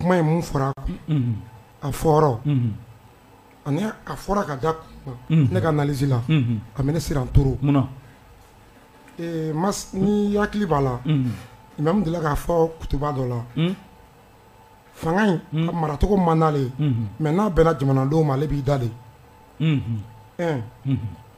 kuma ye mun fɔra a fɔra ani a fɔra ka da ne ka analyse la a bɛ ne siran toro munna ma n'i hakili b'a la imamu delila k'a fɔ kutuba dɔ la fanga in ka maracogo man d'ale ye mais n'a bɛnna jamanadenw ma ale b'i da de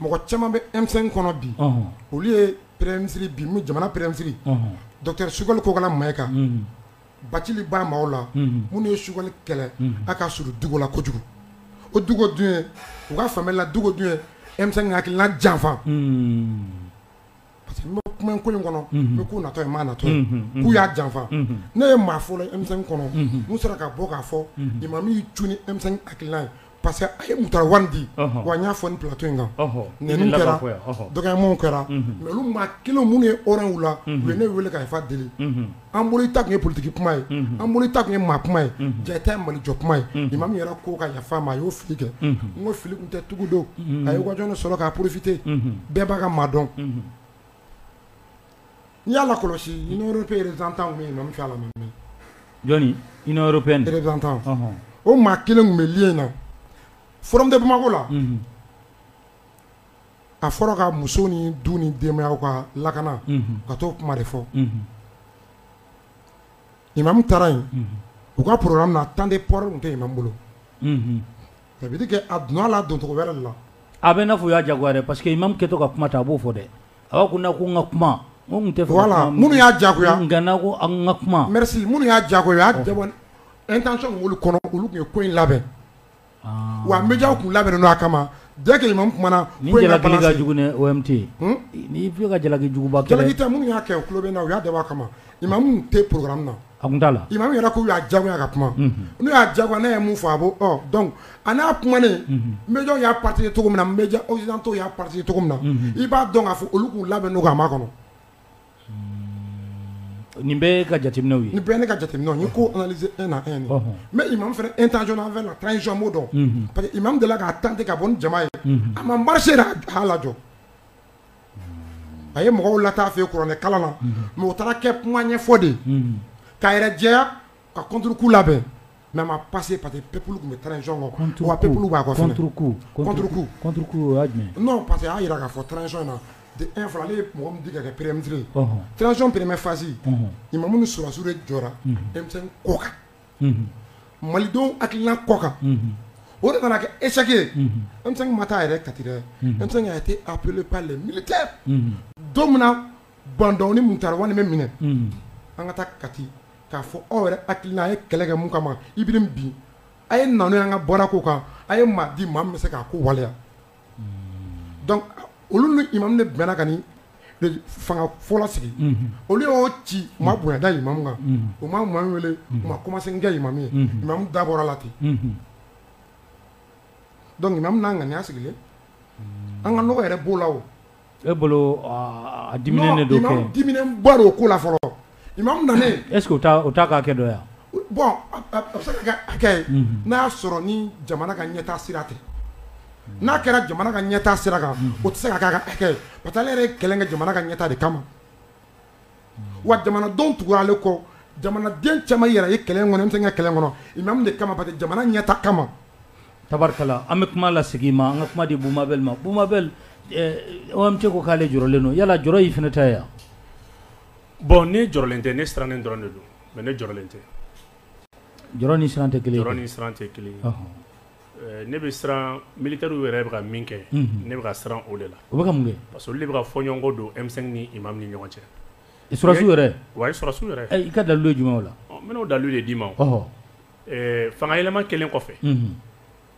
mɔgɔ caman bɛ emisɛn kɔnɔ bi olu ye pɛrɛnmisiri bi jamana pɛrɛnmisiri dɔri sukali kokala ma kan baci ba ma la minnu ye sukali kɛlɛ a ka suru dugu la kojugu o dugu dun u ka fanla dugu dun emisɛn ka hakilila janfa parce que n bɛ kuma ko in kɔnɔ n bɛ k'u natɔ ye maa natɔ ye k'u y'a janfa ne ye maa fɔlɔ ye M5 kɔnɔ min sera ka bɔ k'a fɔ imamu y'i cun ni M5 hakilina ye parce que a ye mutara wani di wa n y'a fɔ ni plateau in kan nɛniw kɛra dɔgɔyamaw kɛra mais olu maa kelen minnu ye hw la u ye ne weele ka yafa deli an bolo i ta tun ye politigi kuma ye an bolo i ta tun ye maa kuma ye jaa i ta ye mali jɔ kuma ye imamu yɛrɛ ko ka yafa a ma a y'o fili kɛ n ko fili tun tɛ tugu don a ye occasion sɔrɔ k'a profiter bɛɛ b'a ka maa dɔn n'i y'a lakɔlɔsi union européenne représentant min min fɛ la jɔnni union européenne représentant o maa kelen tun bɛ le in na forum de bamakɔ la a fɔra ka muso ni du ni denbayaw ka lakana ka t'o kuma de fɔ imamu taara yen u ka programme na temps de parole tun tɛ imam bolo ça veut dire que a donna a la doncogo wɛrɛ la a bɛ n'a fɔ u y'a jagoya dɛ parce que imamu kɛtɔ ka kuma ta a b'o fɔ dɛ a b'a ko na ko n ka kuma tun tɛ la minnu y'a jagoya n n ko an ka kuma minnu y'a jagoya u y'a dabɔ intention b'olu kɔnɔ olu tun ye ko in labɛn Wa médiaw tun labɛnnen don a kama dès que imamu kumana ka jugu n'i'i ka jalaki juguba kɛlɛkisɛ minnu y'a kɛ tulo bɛ na u y'a dabɔ a kama imamu tun tɛ programme na a da la imamu yɛrɛ k'u y'a jagoya ka kuma n'u y'a jagoya ne ye mun fɔ a b'o donc a n'a kumanen médiaw y'a partagé cogo min na médias occidentaux y'a partagé cogo min na i b'a dɔn k'a fɔ olu tun labɛnnen don a makɔnɔ Nin bɛɛ ka jateminɛw ye nin bɛɛ ne ka jateminɛ ye ko analyser un à un mais imamu fana intention envers la transition an m'o dɔn parce que imamu delila k'a tenter ka bɔ ni jama ye a ma marché a y'a lajɔ a ye mɔgɔw lataa fɛ kuranɛ kalan na mais o taara kɛ kuma ɲɛfɔ de k'a yɛrɛ jɛya ka kunturuku labɛn mɛ ma pa que pa que pep tun bɛ tcɔn kan wa pep b'a parce que y'a jira k'a fɔ tcɔn na e fana ale mɔgɔ ka kɛ perefitirire tcɔn pereremɛ fasi i ma minnu sɔrɔsiw de jɔra denmisɛnnin kɔ kan malidenw akila kɔ kan o de nana kɛ eseke ma taa yɛrɛ kati dɛ tɛ aplɛplen mili tɛ don min na bantɔin taara walima bɛ minɛ an ka taa kati k'a fɔ aw yɛrɛ hakili la a ye kɛlɛ kɛ mun kama Ibrim bin a ye na n'o y'an ka bɔda ko kan a ye maa di maa min bɛ se k'a ko waleya donc olu ni imamu de bɛnna ka nin fanga fɔlɔ sigi olu y'o ci u ma bonya da imamu kan u ma imamu wele u ma kumasen kɛ imamu ye imamu da bɔra la ten donc imamu n'a ŋaniya sigilen an ka nɔgɔ yɛrɛ b'o la o E bolo di don di o ko la fɔlɔ i ma na ese o k'a kɛ dɔn yan bɔn ye n'a y'a sɔrɔ ni jamana ka ɲɛta sira ten n'a kɛra jamana ka ɲɛta sira kan o tɛ se ka' ka hakɛ pa taa ne yɛrɛ kɛlɛn ka jamana ka ɲɛta de kama wa jamanadenw tugura ale kɔ jamanaden caman yɛrɛ ye kɛlɛ kɔnɔ M5 ka kɛlɛ kɔnɔ imam de kama parce que jamana ɲɛtaa kama tabarikala an bɛ kuma lasegin ma an ka kuma di Boubou Mabel ma Boubou Mabel OMT ko k'ale jɔrɔlen don yala jɔrɔ y'i fana ta ye wa bon ne jɔrɔlen tɛ ne sirannen dɔrɔn de don mais ne jɔrɔlen tɛ jɔrɔ ni siran tɛ kelen ye jɔrɔ ni siran tɛ kelen Ne bɛ siran militaires yɛrɛ bɛ ka min kɛ ne bɛ ka siran o de la o bɛ ka mun kɛ parce que olu de bɛ ka fɔɲɔgɔnkɔ don M5 ni imam ni ɲɔgɔn cɛ sɔrɔsiw yɛrɛ wa sɔrɔsiw yɛrɛ i ka dalilu ye jumɛn o la n bɛn'o dalilu de d'i ma fanga yɛlɛma kɛlen kɔfɛ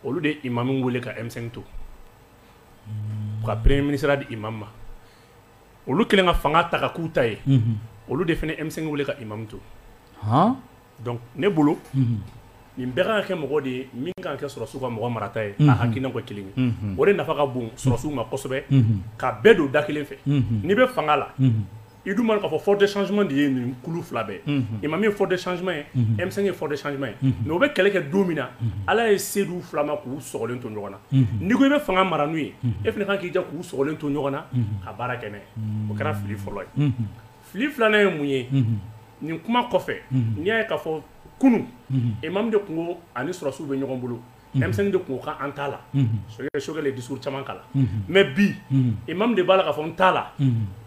olu de y'imam wele ka M5 to ka premier ministreya di imam ma olu kɛlen ka fanga ta ka k'u ta ye olu de fana M5 wele ka imam to Donc ne bolo unhun nin bɛɛ ka kan ka kɛ mɔgɔ de ye min ka kan ka kɛ sɔrɔsiw ka mɔgɔ marata ye unhun ka hakilinaw kɛ kelen ye unhun o de nafa ka bon sɔrɔsiw ma kosɛbɛ unhun ka bɛɛ don da kelen fɛ unhun n'i be faŋa la unhun i dun b'a dɔn k'a fɔ force de changement de ye nin kulu 2 bɛɛ ye unhun imam ye force de changement ye unhun M5 ye force de changement ye unhun mais u be kɛlɛ kɛ don min na unhun Ala ye se d'u 2 ma k'u sɔgɔlen to ɲɔgɔn na unhun n'i ko i be faŋa mara n'u ye unhun e fɛnɛ ka kan k'i jija k'u sɔgɔlen to ɲɔgɔn na unhun ka baara kɛ n'a ye unnn o kɛra fili fɔlɔ ye unhun fili filanan ye mun ye nin kuma kɔfɛ n'i y'a ye k'a fɔ kunun imam de tun ko a ni sɔrɔsiw bɛ ɲɔgɔn bolo M5 de tun ko k'an t'a la Choguel ye discours caman k'a la mais bi imam de b'a la k'a fɔ n t'a la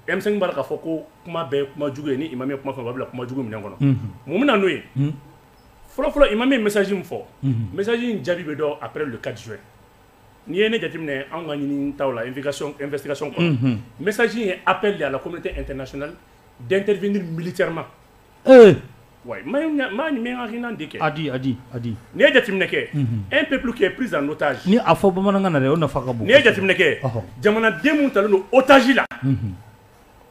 M5 b'a la k'a fɔ ko kuma bɛɛ ye kuma jugu ye ni imam ye kuma fɔ a b'a bila kuma jugu minɛn kɔnɔ mun bɛna n'o ye fɔlɔfɔlɔ imam ye message min fɔ message in jaabi bɛ dɔn après le 4 juin N'i ye ne jateminɛ anw ka ɲinini taw la investigation investigation kɔnɔ. Unhun. Message in ye appel de ye à la communauté internationale d'intervenir militairement. Ee! Ouais, n bɛ n b'a ɲininka n bɛ n ka hakilina di kɛ. A di, a di, a di. N'i ye jateminɛ kɛ. Unhun. Un peuple qui est pris en otage. Nin a fɔ bamanankan na dɛ, o nafa ka bon. N'i ye jateminɛ kɛ. Ɔhɔ! Jamanaden minnu talen don otage la. Unhun.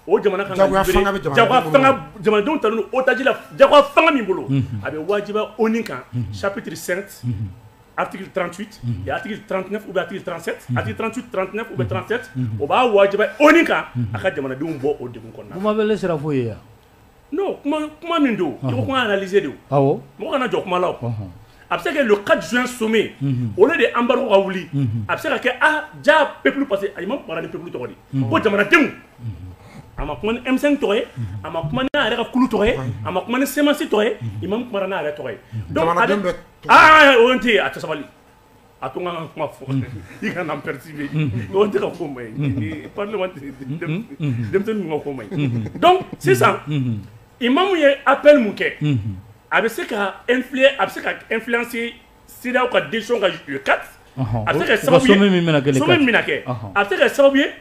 O jamana ka kan ka libéré, jagoya fanga bɛ jamana, jagoya fanga jamanadenw talen don otage la jagoya fanga min bolo, unhun, a bɛ wajibiya ONU kan chapitre 7 article 38 et article 39 ou bien article 37, article 38, 39 ou bien 37 o b'a wajibiya ONU kan a ka jamanadenw bɔ o degun kɔnɔna na, Boubou Mabel e sera fo yen wa non kuma min don i ko kuma analyser don mɔgɔ kana jɔ kuma la a bɛ se ka kɛ le 4 juin sommet au lieu de embargo ka wuli a bɛ se ka kɛ a ja peuple parce que imam kumara ni peuple tɔgɔ ko jamanadenw a ma kuma ni M5 tɔgɔ ye a ma kuma n'a yɛrɛ ka kulu tɔgɔ ye a ma kuma ni CMAS tɔgɔ ye imam kumara n'a yɛrɛ tɔgɔ ye o tɛ a tɛ sabali a to ka kuma fɔ i ka nan pɛresi bɛ dɔgɔ tɛ ka ko ma ye pa denmisɛn ka ko ma ye dɔn sisan i ma mun ye a pɛri mun kɛ a bɛ se ka e a bɛ se ka e filasi siraw ka den ka kati a bɛ se ka sababu min kɛ a bɛ se ka sababu ye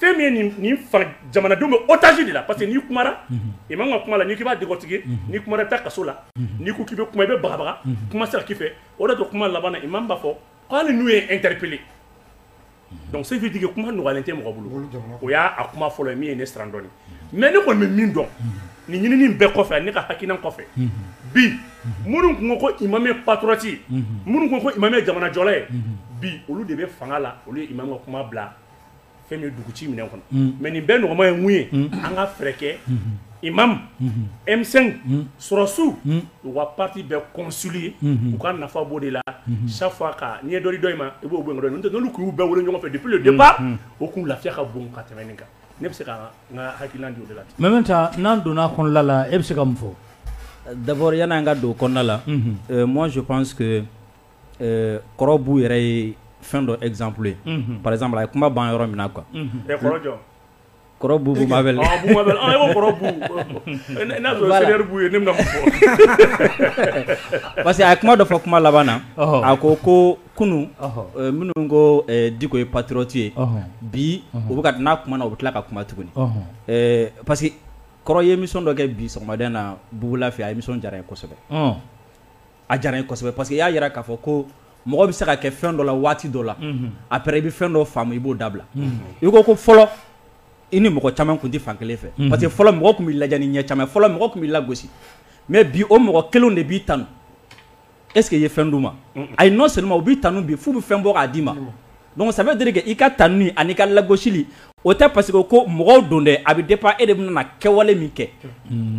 fɛn min ye nin fara jamanadenw bɛ otage de la parce que n'i kumara imam ka kuma la n'i k'i b'a décortiquer n'i kumara i bɛ taa kaso la n'i ko k'i bɛ kuma i bɛ bagabaga kuma sera k'i fɛ o de to kuma laban na imam b'a fɔ k'ale n'u ye interpeller donc ça veut dire que kuma nɔgɔyalen tɛ mɔgɔ bolo o y'a kuma fɔlɔ min ye ne siran dɔɔnin mais ne kɔni bɛ min dɔn nin ɲinini bɛɛ kɔfɛ ne ka hakilina kɔfɛ bi minnu tun ko ko imam ye patriote ye minnu ko ko imam ye jamanajɔla ye bi olu de bɛ fanga la olu ye imam ka kuma bila fɛn bɛ dugu ci minɛ kɔnɔ mɛ nin bɛɛ nɔgɔma ye mun ye an ka fɛɛrɛkɛ i ma emisɛn sɔrɔsiw u ka pati bɛɛ kɔsiri ye u ka nafa bɔ de la safa ka ɲɛ dɔ dɔ in ma i b'o n'olu k'u bɛɛ wolo ɲɔgɔnfɛ de de ba o k'u lafiya ka bon ka tɛmɛn kan ne bɛ se ka n ka hakili la mɛ bɛ taa n'an donna kɔnɔla la e bɛ se ka mun fɔ dabɔya n'an ka don kɔnɔnala mɔnsi pan Ɛɛ kɔrɔ Bu yɛrɛ ye fɛn dɔ exemple ye unhun par exemple a ye kuma ban yɔrɔ min na quoi unhun ɛ kɔrɔ jɔn kɔrɔ Bubu ɔɔ Bubu Mabel ɔ e ko kɔrɔ Bu ɛ n'a y'a sɔrɔ voilà senior Bu ye ne bɛna mun fɔ parce que a ye kuma dɔ fɔ kuma laban na ɔhɔ a ko koo kunun ɔhɔ ɛ minnu ko ɛɛ Diko ye patriote ye ɔhɔ bi ɔhɔ u bɛ ka t n'a kumana u bɛ tila ka kuma tuguni ɔhɔ ɛɛ parce que kɔrɔ ye émission dɔ kɛ bi sɔgɔmada in na Bubu La fɛ a émission diyara n ye kosɛbɛ ɔɔ a diyara n ye kosɛbɛ parce que i y'a jira k'a fɔ ko mɔgɔ bɛ se ka kɛ fɛn dɔ la waati dɔ la après i bɛ fɛn dɔ faamu i b'o dabila i ko ko fɔlɔ i ni mɔgɔ caman tun tɛ fan kelen fɛ parce que fɔlɔ mɔgɔ tun bɛ lajɛ ni ɲɛ caman ye fɔlɔ mɔgɔ tun bɛ lagosi mais bi o mɔgɔ kelenw de b'i tanu est ce que i ye fɛn d'u ma ayi non seulement u b'i tanu bi f'u bɛ fɛn bɔ k'a d'i ma. Donc ça veut dire que i ka tanuni ani i ka lagosili o tɛ parce que ko mɔgɔw don dɛ a bɛ dépend e de bɛna kɛwale min kɛ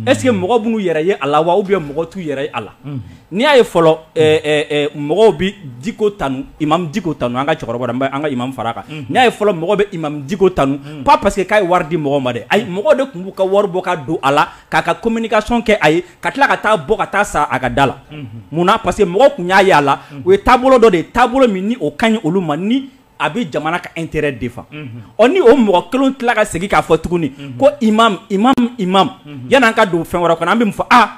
est ce que mɔgɔ b'u yɛrɛ ye a la wa ou bien mɔgɔ t'u yɛrɛ ye a la n'i y'a ye fɔlɔ mɔgɔw bɛ Diko tanu imam Diko tanu an ka cɛkɔrɔba la an ka imam fara kan n'i y'a ye fɔlɔ mɔgɔ bɛ imam Diko tanu pas parce que k'a ye wari di mɔgɔ ma dɛ ayi mɔgɔ de tun b'u ka wari bɔ ka don a la k'a ka communication kɛ a ye ka tila ka taa bɔ ka taa sa a ka da la munna parce que mɔgɔ tun y'a ye a la o ye taabolo dɔ de ye taabolo min ni o ka ɲi olu ma ni a bɛ jamana ka intérêt défend ɔ ni o mɔgɔ kelen tila ka segin k'a fɔ tuguni ko imam imam imam yan'an ka don fɛn wɛrɛ kɔnɔ an bɛ mun fɔ aa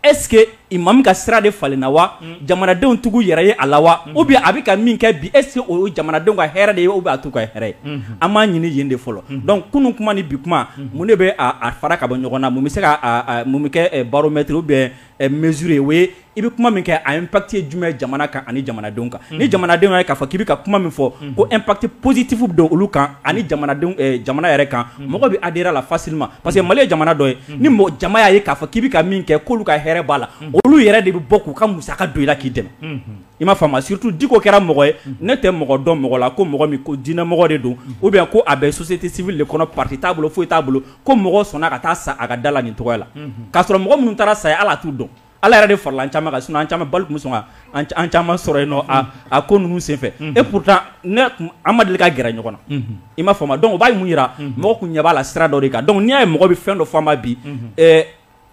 est-ce que imamu ka sira de falenna wa jamanadenw tugu yɛrɛ ye a la wa ou bien a bɛ ka min kɛ bi est-ce que o ye jamanadenw ka hɛrɛ de ye ou bien a t'u ka hɛrɛ ye an b'a ɲini yen de fɔlɔ donc kunun kuma ni bi kuma mun de b'a fara ka bɔ ɲɔgɔn na mun bɛ se ka mun bɛ kɛ baromètre ou bien mesure ye o ye i bɛ kuma min kɛ a impact ye jumɛn jamana kan ani jamanadenw kan ni jamanadenw ye k'a fɔ k'i bɛ ka kuma min fɔ ko impact positif don olu kan ani jamana yɛrɛ kan mɔgɔ bɛ adhérer a la facilement parce que mali ye jamana dɔ ye ni mɔgɔ jama y'a ye k'a fɔ k'i bɛ ka min kɛ k'olu ka hɛrɛ b'a la olu yɛrɛ de bɛ bɔ k'u ka musaka don i la k'i dɛmɛ i m'a faamu surtout diko kɛra mɔgɔ ye ne tɛ mɔgɔ dɔn mɔgɔ la ko mɔgɔ min ko diinɛmɔgɔ de don ou bien ko a bɛ société civile de kɔnɔ parti t'a bolo foyi t'a bolo ko mɔgɔ sɔnna ka taa sa a ka da la nin tɔgɔ la k'a sɔrɔ mɔgɔ minnu taara sa a ye ale t'u dɔn ala yɛrɛ de farala an caman kan sinon an caman balle tun bɛ sɔn ka an caman sɔrɔ yen a ko ninnu senfɛ et pourtant an ma deli ka gɛrɛ ɲɔgɔn na i m'a faamu donc o b'a mun jira mɔgɔ tun ɲɛ b'a la sira dɔ de kan donc n'i y'a ye mɔgɔ bɛ fɛn dɔ fɔ a ma bi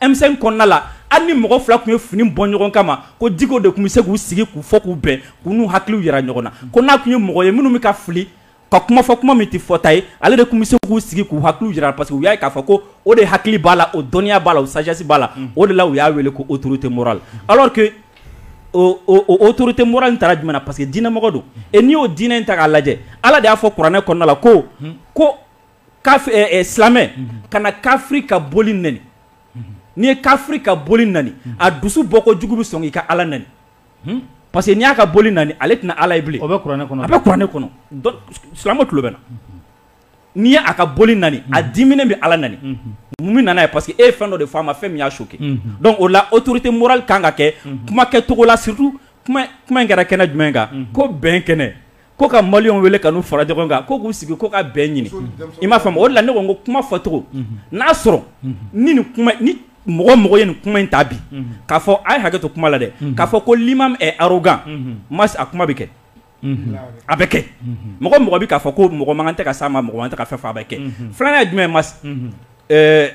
M5 kɔnɔna la hali ni mɔgɔ fila tun ye fini bɔ ɲɔgɔn kama ko diko de tun bɛ se k'u sigi k'u fɔ k'u bɛn k'u n'u hakiliw jira ɲɔgɔn na ko n'a tun ye mɔgɔ ye minnu bɛ ka fili ka kuma fɔ kuma min tɛ fɔta ye ale de tun bɛ se k'u sigi k'u hakiliw jira parce que u y'a ye k'a fɔ ko o de hakili b'a la o dɔnniya b'a la o sagesse b'a la o de la u y'a wele ko autorité morale alors que o autorité morale in taara jumɛn na parce que diinɛmɔgɔ don et n'i y'o diinɛ in ta k'a lajɛ Ala de y'a fɔ kuranɛ kɔnɔna la ko silamɛ kana kafiri ka boli nani n'i ye kafiri ka boli nani a dusu bɔko jugu bɛ sɔn k'i ka ala nani parce que n'i y'a ka boli nani ale tɛna ala ye bilen a bɛ kuranɛ kɔnɔ a bɛ kuranɛ kɔnɔ silamɛ tulo bɛ na n'i ye a ka boli nani a diminen bɛ ala nani mun bɛ na n'a ye parce que e ye fɛn dɔ de fɔ a ma fɛn min y'a choqué donc o la autorité morale kan ka kɛ kuma kɛcogo la surtout kuma in kɛra kɛnɛ jumɛn kan ko bɛn kɛnɛ ko ka maliyɛnw wele ka n'u fara ɲɔgɔn kan ko k'u sigi ko ka bɛn ɲini i m'a faamu o la ne ko n ko kuma fɔcogo n'a sɔrɔ ni ni kuma ni mɔgɔ o mɔgɔ ye nin kuma in ta bi k'a fɔ a ye hakɛ to kuma la dɛ k'a fɔ ko l'imam est arrogant mais a kuma bɛ kɛ a bɛ kɛ mɔgɔ mɔgɔ bɛ k'a fɔ ko mɔgɔ man kan tɛ ka s'a ma mɔgɔ man kan tɛ ka fɛn fɔ a bɛ kɛ filanan ye jumɛn ye mais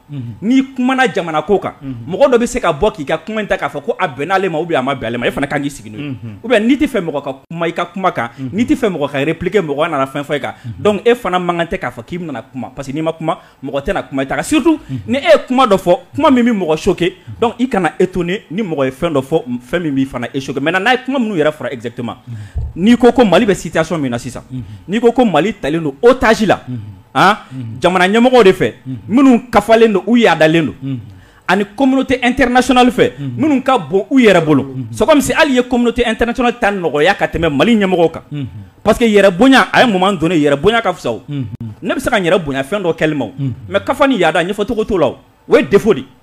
n'i kumana jamana ko kan mɔgɔ dɔ bɛ se ka bɔ k'i ka kuma in ta k'a fɔ ko a bɛnna ale ma ou bien a ma bɛn ale ma e fana ka kan k'i sigi n'o ye ou bien n'i t'a fɛ mɔgɔ ka kuma i ka kuma kan n'i t'a fɛ mɔgɔ ka répliquer mɔgɔ nana fɛn fɔ e kan donc e fana man kan tɛ k'a fɔ k'i bɛna kuma parce que n'i ma kuma mɔgɔ tɛna kuma i ta kan surtout ni e ye kuma dɔ fɔ kuma min bɛ mɔgɔ choquer donc i kana étonner ni mɔgɔ ye fɛn dɔ fɔ fɛn min b'i fana e choquer maintenant n'a ye kuma minnu yɛrɛ fɔra exactement n'i ko ko Mali bɛ situation min na sisan n'i ko ko Mali talen don otage la jamana ɲɛmɔgɔw de fɛ minnu kafalen don u yaadalen don ani communauté internationale fɛ minnu ka bon u yɛrɛ bolo c'est comme si hali ye communauté internationale ta nɔgɔya ka tɛmɛ Mali ɲɛmɔgɔw kan parce que yɛrɛ bonya a ye moment donné yɛrɛ bonya ka fisa o ne bɛ se ka yɛrɛ bonya fɛn dɔ kɛli ma o mais kafa ni yaada ɲɛfɔcogo t'o la o ye défaut de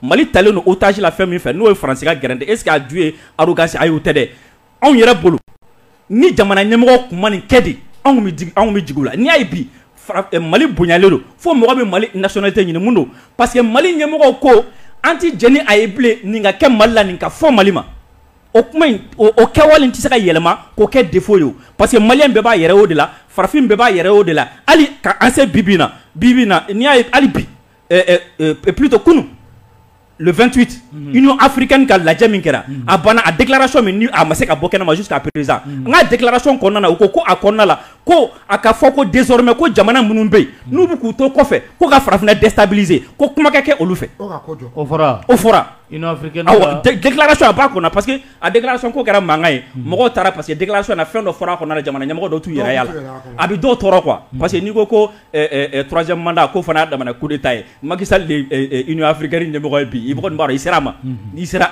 Mali talen don otage la fɛn min fɛ n'o ye France ka gɛrɛntɛ est ce que a ju ye arrogance ayi o tɛ dɛ anw yɛrɛ bolo ni jamana ɲɛmɔgɔ tun ma nin kɛ de anw tun bɛ digi anw tun bɛ jigin u la n'i y'a ye bi fara eh, Mali bonyalen don fo mɔgɔ bɛ Mali nationalité ɲini mun don parce que Mali ɲɛmɔgɔw ko an tɛ jɛn ni a ye bilen nin ka kɛ Mali la nin ka fɔ Mali ma o kuma in o o kɛwale in tɛ se ka yɛlɛma k'o kɛ défaut ye o parce que maliyɛn bɛɛ b'a yɛrɛ y'o de la farafin bɛɛ b'a yɛrɛ y'o de la hali ka an se bi bi in na bi bi in na n'i y'a ye hali bi plutôt kunun le vingt-huit Union africaine ka lajɛ min kɛra a banna a déclaration min ni a ma se ka bɔ kɛnɛ ma jusqu'à présent nka déclaration kɔnɔna u ko ko a kɔnɔna la ko a ka fɔ ko désormais ko jamana minnu bɛ yen n'u bɛ k'u to kɔfɛ ko ka farafinna déstabiliser ko kuma ka kɛ olu fɛ o fɔra déclaration a ba kɔnɔ parce que a déclaration ko kɛra mankan ye mɔgɔw taara parce que déclaration na fɛn dɔ fɔra a kɔnɔ la jamana ɲɛmɔgɔ dɔw t'u yɛrɛ y'a la a bɛ dɔw tɔɔrɔ quoi parce que n'i ko turasɛmda ko fana da ko ta ye makisafiri ɲɛmɔgɔ bi i b'a i sera a ma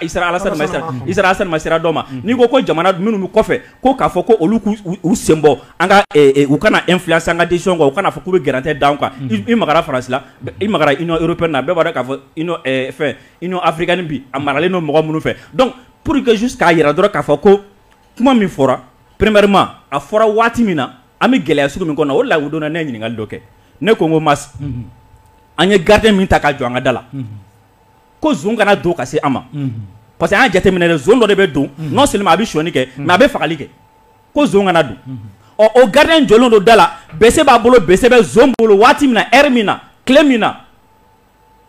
alama sira dɔ ma n'i ko ko jamana minnu kɔfɛ ko k'a fɔ ko olu u senbɔ an ka u kana e fila san ka disi kan u kana fɔ k'u bɛ garantɛ dan kan i ma farasi i ma i yɔrɔ na bɛɛ b'a k'a fɔ fɛ i afirikan bi a maralen don mɔgɔ minnu fɛ dɔnku pur quesisu k'a jira dɔrɔn k'a fɔ ko kuma min fɔra pmama a fɔra waati min na An bɛ gɛlɛya sugu min kɔnɔ o la u donna ne ye ɲininkali dɔ kɛ ne ko n ko Mas an ye gardien min ta ka jɔ an ka da la ko zon kana don ka se an ma parce que an y'a jateminɛ zon dɔ de bɛ don non seulement a bɛ sonyani kɛ mais a bɛ fagali kɛ ko zon kana don ɔ o gardien jɔlen don da la bese b'a bolo bese bɛ zon bolo waati min na heure min na tile min na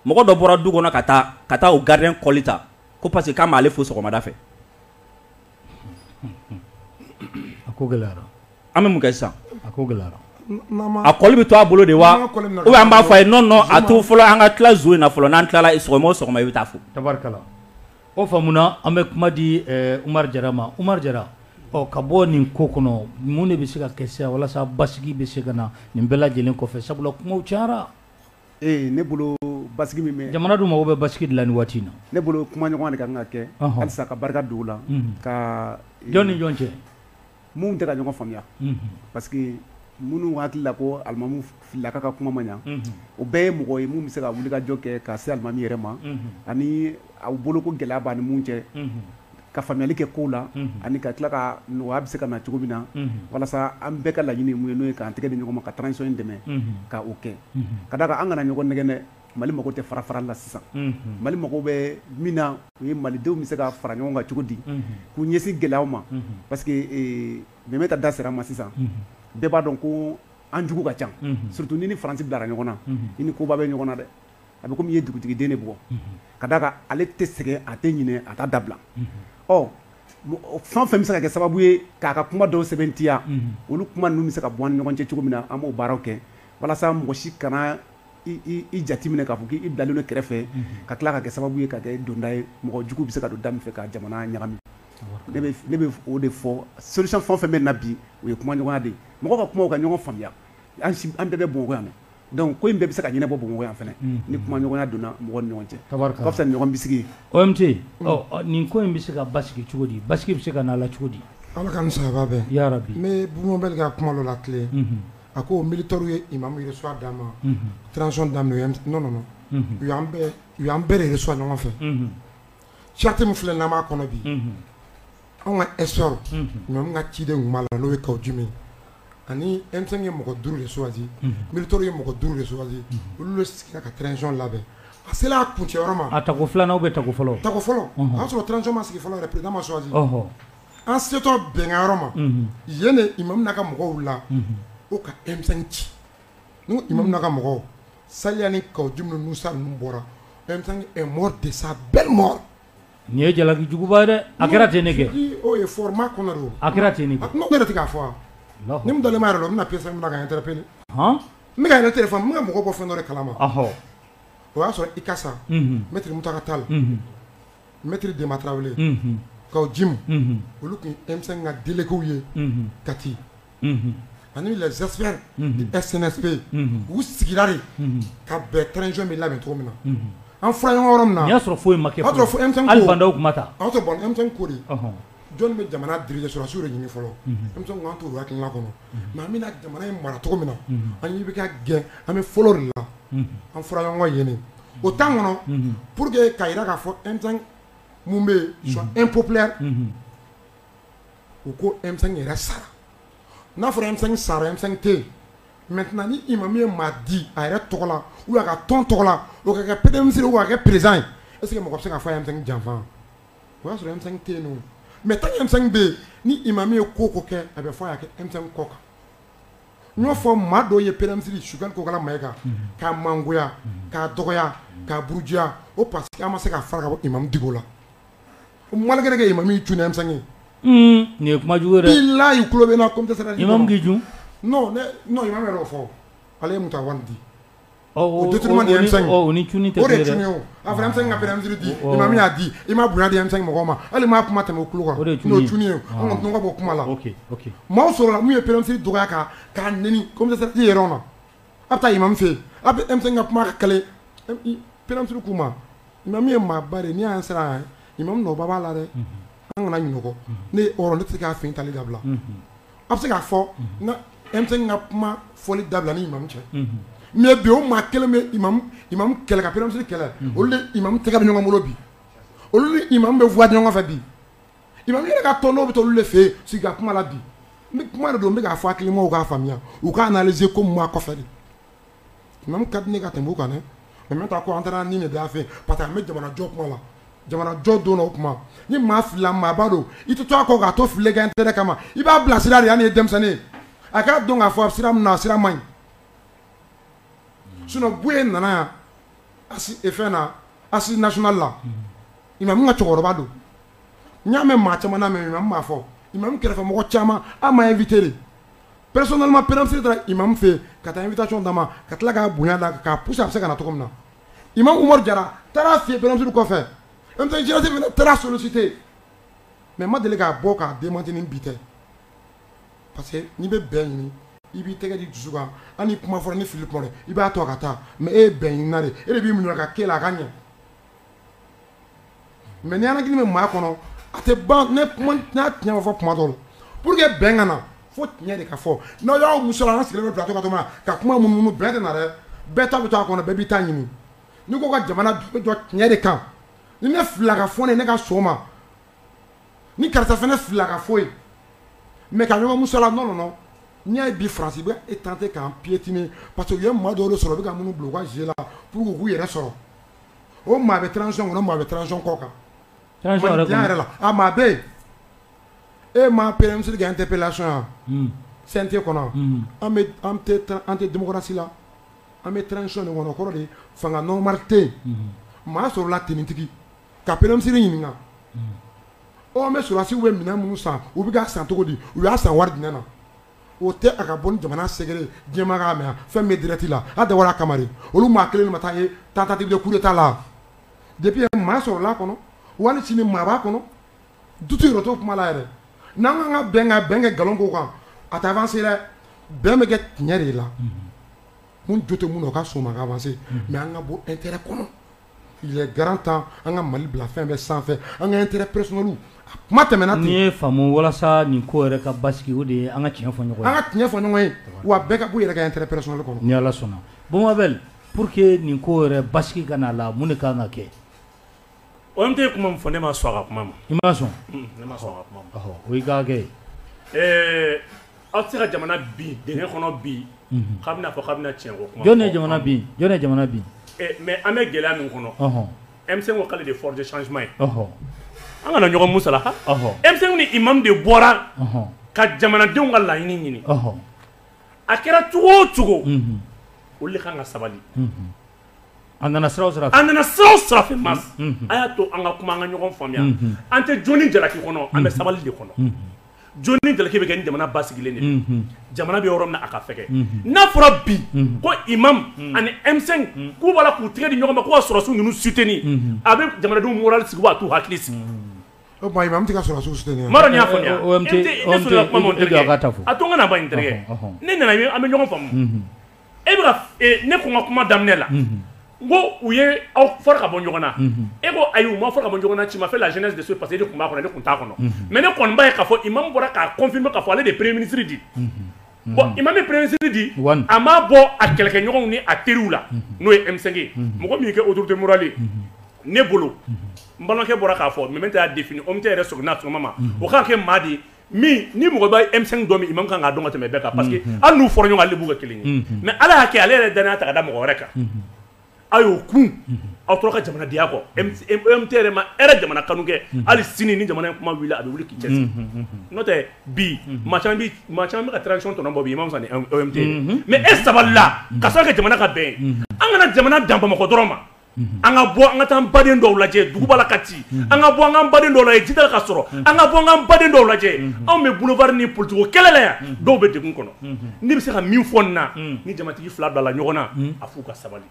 mɔgɔ dɔ bɔra du kɔnɔ ka taa o gardien kɔli ta ko parce que k'a m'ale fo sɔgɔmada fɛ A ko gɛlɛyara an bɛ mun kɛ sisan a ko gɛlɛyara a kɔli bɛ to a bolo de wa n'an ka kɔli minɛ ou bien an b'a fɔ a ye non non a to fɔlɔ an ka tila zon in na fɔlɔ n'an tilala sɔgɔma o sɔgɔma i bɛ taa fo tabarikala o faamuna an bɛ kuma di ɛɛ Umaru Jara ma Umaru Jara ɔ ka bɔ nin ko kɔnɔ mun de bɛ se ka kɛ sisan walasa basigi bɛ se ka na nin bɛɛ lajɛlen kɔfɛ sabula kumaw cayara Ee ne bolo basigi min bɛ jamana dun mago bɛ basigi de la nin waati in na ne bolo kumaɲɔgɔnya de ka kan ka kɛ halisa ka barika don o la ka jɔn ni jɔn cɛ minnu tɛ ka ɲɔgɔn faamuya parce que minnu hakili la ko alimamu Filaka ka kuma ma ɲa o bɛɛ ye mɔgɔ ye minnu bɛ se ka wuli ka jɔ kɛ ka se alimami yɛrɛ ma ani aw bolo ko gɛlɛya b'a ni minnu cɛ ka faamuyali kɛ kow la ani ka tila ka nɔgɔya bɛ se ka na cogo min na walasa an bɛɛ ka laɲini min ye n'o ye k'an tɛgɛ di ɲɔgɔn ma ka transition in dɛmɛ ka o kɛ ka d'a kan an kana ɲɔgɔn nɛgɛn dɛ Mali mago tɛ farafarali la sisan Mali mago bɛ min na o ye Malidenw bɛ se ka fara ɲɔgɔn kan cogo di k'u ɲɛsin gɛlɛyaw ma parce que Mɛmɛta da sera a ma sisan bɛɛ b'a dɔn ko an jugu ka ca surtout n'i ni Faransi bilara ɲɔgɔn na i ni koba bɛ ɲɔgɔn na dɛ. a bɛ komi i ye dugutigiden de bugɔ, unhun, ka d'a kan ale tɛ sɛgɛn a tɛ ɲinɛ a t'a dabila, unhun, ɔ fɛn o fɛn bɛ se ka kɛ sababu ye k'a ka kuma dɔw sɛbɛntiya, unhun, olu kuma ninnu bɛ se ka bɔ an ni ɲɔgɔn cɛ cogo min na an b'o baaraw kɛ walasa mɔgɔ si kana i jate minɛ k'a fɔ k'i bilalen don kɛrɛfɛ, unhun, ka tila ka kɛ sababu ye ka kɛ donda ye mɔgɔ jugu bɛ se ka don da min fɛ ka jamana ɲagami, ne bɛ o de fɔ solution fɛn o fɛn bɛ nin na bi o ye kumaɲɔgɔnya de ye mɔgɔw ka kuma u ka ɲɔgɔn faamuya an bɛɛ bɛ Bamakɔ yan Donc ko in bɛɛ bɛ se ka ɲɛnabɔ Bamakɔ yan fɛnɛ ni kumaɲɔgɔnya donna mɔgɔw ni ɲɔgɔn cɛ, tabarikala, o ka fisa ni ɲɔgɔn bisigi ye, OMT, ɔ nin ko in bɛ se ka basigi cogo di, basigi bɛ se ka na a la cogo di? Ala k'an ni sababa bɛn, yarabi, n bɛ Bubu Mabɛli ka kuma dɔ latilen, unhun, a ko militaires ye imamu reçoit dama, unhun, transition daminɛ non non non u y'an bɛɛ de reçoit ɲɔgɔn fɛ, unhun, charte min filɛ n'an b'a kɔnɔ bi, unhun Anw ka esw n ka ciden tun' la n'o ye ka jumɛn ani e ye mɔgɔ duuru de swasi bitɔ ye mɔgɔ duuru de swasi olu sigira ka tzɔn labɛn a se a kun cɛ ma a ta ko filanan' bɛ ta fɔlɔ ta fɔlɔ y'a sɔrɔ tɔnc ma sigi fɔlɔ pda ma swasi an setɔ bɛnkanyɔrɔ ma yen de i ma ka mɔgɔw la o ka e ci n i ma ka mɔgɔw sa ni ka jumɛn sa ninnu bɔra mɔ de sa bɛɛ mɔ Nin ye jalakijuguba ye dɛ a kɛra ten ne kɛ a kɛra ten ne k'a fɔ ni dalen yɛrɛ la n bɛna p min kan tɛ pewu n bɛka yɛrɛ tɛ fɔ n bɛ mɔgɔ bɔ fɛn dɔ kalama o y'a sɔrɔ i ka sa n bɛ ta ka taa la n bɛtiri denma tarawele ka jimu olu tun denmisɛnnin ka delieliliw ye kati ani les experts du CNSP u sigira de ka bɛn transition bɛ labɛn cogo min na an fɔra ɲɔgɔn yɔrɔ min na o y'a sɔrɔ foyi ma kuma taa aw tɛ bon ko de jɔn bɛ jamana diriger sɔrɔsiw de ɲini fɔlɔ M5 ko an t'o hakilina kɔnɔ mais an bɛna jamana in mara cogo min na an' bɛ ka gɛn an bɛ fɔlɔ de la an fɔra ɲɔgɔn yen o temps kɔnɔ pour que ka jira k'a fɔ M5 min bɛ yen est impopulaire u ko e yɛrɛ sara n'a fɔra e sara e tɛ mɛ ni i ma min ye maa di a yɛrɛ tɔgɔ la u ka tɔn tɔgɔ la o kɛ p misi waa kɛ perez ye e sigi mɔgɔ se ka fɔ e janfa o y'a sɔrɔ e tɛ yen mɛ tan e bɛ yen ni i ma min ye ko ko kɛ a bɛ fɔ y'a kɛ e kɔ kan n'o fɔ maa dɔw ye pere misisiriri su ko kala ma e kan k'a mangoya k'a dɔgɔya k'a buruya o pa que ma se ka fara i ma di la Malgré que imam min jumɛn ye nin ye kuma jugu la y'i tulo bɛ na ko dɛ imam k'i dun yɛrɛ fɔ ale ye Moctar Ouane di au détriment de M5 a fana M5 ka bɛn di ma min y'a di imam bonya di M5 mɔgɔ ma hali maa kuma tɛmɛ kulu kan ye ka bɔ kuma la maaw sɔrɔla min ye premier ministre dɔgɔya k'a neni i yɛrɛ na a taa imam fɛ a bɛ M5 ka kuma ka p k'u ma Imam ye maaba de n'an sera yan imam nɔ b'a la dɛ an kana ɲɔgɔn nɛgɛn ne tɛ se k'a fɛn tali dabila a bɛ se k'a fɔ n ka M5 ka kuma fɔli dabila ni imam cɛ mais bi o maa kelen bɛ kɛlɛ ka premier ministre kɛlɛ olu ni imam tɛgɛ bɛ ɲɔgɔn bolo bi olu ni imam bɛ voix ɲɔgɔn fɛ bi imam yɛrɛ ka tɔn dɔw bɛ olu de fɛ yen sigi ka kuma la bi kuma don n bɛ k'a fɔ hakilimaw k'a faamuya u k'a analyser ko mun b'a kɔfɛ Imam ka di ne ka tɛmɛ o kan mais n bɛ taa ko an taara ni de da fɛ parce que an bɛ jamanajɔ kuma la jamanajɔ don o kuma ni maa filila maaba don i tɛ to a kɔ k'a to fili kan intérêt kama i b'a bilasira de hali n'i ye denmisɛnnin ye a k'a dɔn k'a fɔ a sira min na a sira man ɲi sinon Buye nana yan a e fɛn na assises nationales la imam ka cɛkɔrɔba don n y'a mɛn maa caman na imam m'a fɔ imam kɛrɛfɛmɔgɔ caman an m'a inviter Personnellement premier ministre taara imam fɛ yen ka taa invitation d'a ma ka tila k'a bonya d'a kan k'a pousser a bɛ se ka na cogo min na imam Umaru Jara taara a fɛ yen premier ministre kɔfɛ M5 jeunesse fana taara a solliciter mais n ma deli ka bɔ k'a démentir ni bi tɛ parce que n'i bɛ bɛn ɲini i b'i tɛgɛ di dusu kan hali ni kuma fɔra ni fili kuma na i b'a to a ka taa mais e ye bɛn ɲinina de ye e de b'i muɲu a ka kɛ la a ka ɲɛ mais ni rancune bɛ maa kɔnɔ a tɛ ban n'a tiɲɛ fɔ kuma dɔ la pour que bɛn ka na fo tiɲɛ de ka fɔ n'aw y'aw musala an sigilen bɛ plateau kan ka kuma munumunu bɛn tɛ na dɛ bɛɛ ta bɛ to a kɔnɔ bɛɛ b'i ta ɲini n'i ko ka jamana bɛ jɔ tiɲɛ de kan ni ne filila k'a fɔ ne ka sɔn a ma ni karisa fana filila k'a fɔ a ye mais ka ɲɔgɔn musala non non n'i y'a ye bi France bɛ e tenter k'an piétiner parce que u ye maa dɔw sɔrɔ bɛ ka minnu bila u ka jeu la k'u yɛrɛ sɔrɔ o maa bɛ transition kɔnɔ maa bɛ transition kɔ kan, transition yɛrɛ ye mun ye, mandiya yɛrɛ la a maa bɛ yen e ma premier ministre ka interpellation ye wa, unhun, CNT kɔnɔ an tɛ démocratie la an bɛ transition de kɔnɔ o kɔrɔ de ye fanga normal tɛ yen, unhun, maa sɔrɔla tenitigi ka premier ministre ɲininka ɔ an bɛ sɔrɔdasiw bɛ minɛn minnu san u bɛ k'a san cogo di u y'a san wari jumɛn na o tɛ a ka bɔ ni jamana secret diɲɛmaa k'a mɛn fɛn bɛ direct la a dabɔra a kama de olu maa kelen ma taa ye tentative de coup d'état la depuis maa sɔrɔla a kɔnɔ wali sini maa b'a kɔnɔ doute yɛrɛ t'o kuma la yɛrɛ n'an ka kan ka bɛn ka bɛn kɛ nkalon ko kan a tɛ avancer dɛ bɛn bɛ kɛ tiɲɛ de la n jo tɛ min na o ka sɔn a ma ka avancer mais an ka bɔ intérêt kɔnɔ grand temps an ka mali bila fɛn bɛɛ sanfɛ an ka intérêt personnel kuma tɛmɛna ten n'i y'a faamu walasa nin ko yɛrɛ ka basigi o de ye an ka tiɲɛ fɔ ɲɔgɔn ye an ka tiɲɛ fɔ ɲɔgɔn ye wa bɛɛ ka bɔ i yɛrɛ ka intérêt personnel kɔnɔ ni ala sɔnna bon Abel pour que nin ko yɛrɛ basigi ka n'a la mun de ka kan ka kɛ OMT ye kuma min fɔ ne ma sɔn a ka kuma ma i ma sɔn o ka kɛ aw tɛ se ka jamana bin dingɛ kɔnɔ bi k'a bɛna fɔ k'a bɛna tiɲɛ ko kuma jɔn ye jamana bin jɔn ye jamana bin mais an bɛ gɛlɛya min kɔnɔ M5 ko k'ale de force de changement ye an kana ɲɔgɔn musala M5 ni imam de bɔra ka jamanadenw ka laɲini ɲini a kɛra cogo o cogo olu de kan ka sabali a nana sira o sira fɛ masa a y'a to an ka kuma an ka ɲɔgɔn faamuya an tɛ jɔni jalaki kɔnɔ an bɛ sabali de kɔnɔ jɔni jalaki bɛ kɛ ni jamana basigilen de, unhun, jamana bɛ yɔrɔ min na a ka fɛgɛn, unhun, n'a fɔra bi ko imam ani M5 k'u b'a la k'u tɛgɛ di ɲɔgɔn ma ko ka sɔrɔdasiw ninnu soutenir a bɛ jamanadenw moral sigi wa a t'u hakili sigi, o tuma imam tɛ ka sɔrɔdasiw soutenir wa, n m'a dɔn n'i y'a faamuya, OMT, OMT, i jɔ a ka ta fɔ, a to n ka na ban n terikɛ, ɔhɔ, ɔhɔ, ne nana an bɛ ɲɔgɔn faamu e bɛ ka ne ko n ka kuma daminɛ la n ko u ye aw fara ka bɔ ɲɔgɔn na e ko ayi u ma fara ka bɔ ɲɔgɔn na ci ma fɛ la jeunesse de ce parce que e de tun b'a kɔnɔ ne tun t'a kɔnɔ mais ne kɔni b'a ye k'a fɔ imam bɔra k'a confirmer k'a fɔ ale de ye premier ministre di bon imam ye premier ministre di a m'a bɔ a kɛlɛkɛɲɔgɔnw ni a teriw la n'o ye M5 ye mɔgɔ min kɛ autorité morale ye ne bolo n balimakɛ bɔra k'a fɔ maintenant y'a défini OMT yɛrɛ sɔrɔ n'a sɔgɔma ma o k'a kɛ maa di min ni mɔgɔ bɛ M5 dɔn min imam kan k'a dɔn ka tɛmɛ bɛɛ kan parce que hali n'u fɔra ɲɔgɔn ale b'u kɛ kelen ye mais ala y'a kɛ ale yɛrɛ dannaya ta ka da mɔgɔ wɛrɛ kan aw y'o kun aw tora ka jamana diya kɔ OMT yɛrɛ ma e jamana kanu kɛ hali sini ni jamana kuma wili a bɛ wuli k'i cɛsiri n'o tɛ bi maa caman bɛ ka transition tɔnɔ bɔ bi imam sani OMT mais e sabalila k'a sabu kɛ jamana ka bɛn an kana jamana dan bamakɔ dɔrɔn ma an ka bɔ an ka taa an baden dɔw lajɛ dugu b'a la ka ci an ka bɔ an k'an baden dɔw lajɛ ji t'a la ka sɔrɔ an ka bɔ an k'an baden dɔw lajɛ anw bɛ boulevard ni politique kɛlɛ la yan dɔw bɛ degun kɔnɔ ne bɛ se ka min fɔ nin na ni jamatigi fila bilala ɲɔgɔn na a f'u ka sabali